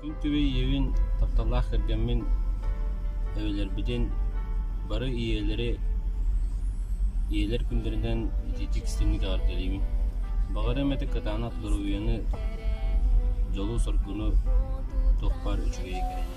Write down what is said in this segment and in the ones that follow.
Күн түбэ ийэбин тапталлаах кэргэммин эбэлэрбитин бары ийэлэри ийэлэр күндэринэн ититик истиҥник эҕэрдэлиибин. Баҕар эмэтик кытаанах доруобуйаны, дьолу-соргуну туохпар үчүгэйи кэрэни.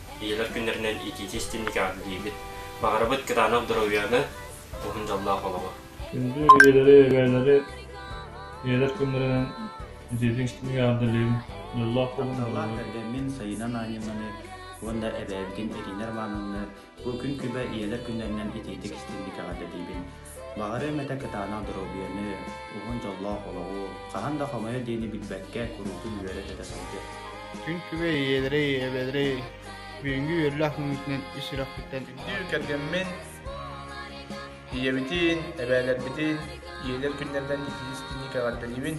Ийэлэр күннэринэн итиити-истинники аатырыйбыт, баҕарабыт кытаанах доруойуаны, уһун дьоллоох олоҕу! Күндү ийэлэри-эбээлэри ийэлэр күннэринэн итиитин-истинники аатырыйбыт, дьоллоох олоҕу! Эргэммин Сайыына Наадьынаны уонна эбээбитин Ирина Романовны бу күн күбэ ийэлэр күннэринэн итиитик-истинник эҕэрдэлиибин! Баҕарыам этэ кытаанах доруобуйаны, уһун дьоллоох олоҕу, хаһан да хомойо диэни билбэккэ куруутун үөрэ-көтө сылдьар. Күн күбэй ийэлэрэй, эбэлэрэй, бүгүҥҥү үөрлээх мүнүүтүнэн ис сүрэхпиттэн биир кэргэммин, ийэбитин, эбээлэрбитин ийэлэр күннэринэн итии-истиҥи кэҕэрдэлиибин.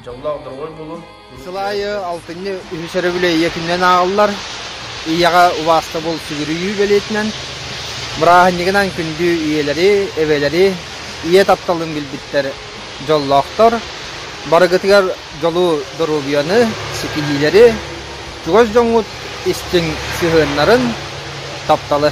Дьоллоох доруобай буолуон. Сыл аайы алтынньы үһүс өрөбүлэйиэ күнүнэн ааҕыллар. Ийэҕэ убаастабыл сүгүрүйүү бэлиэтинэн бырааһынньыгынан күндү ийэлэри, эбэлэри, ийэ тапталын билбиттэр дьоллоохтор. Барыгытыгар дьолу, доруобуйаны, ситиһиилэри, чугас дьоҥҥут истиҥ сыһыаннарын, тапталы.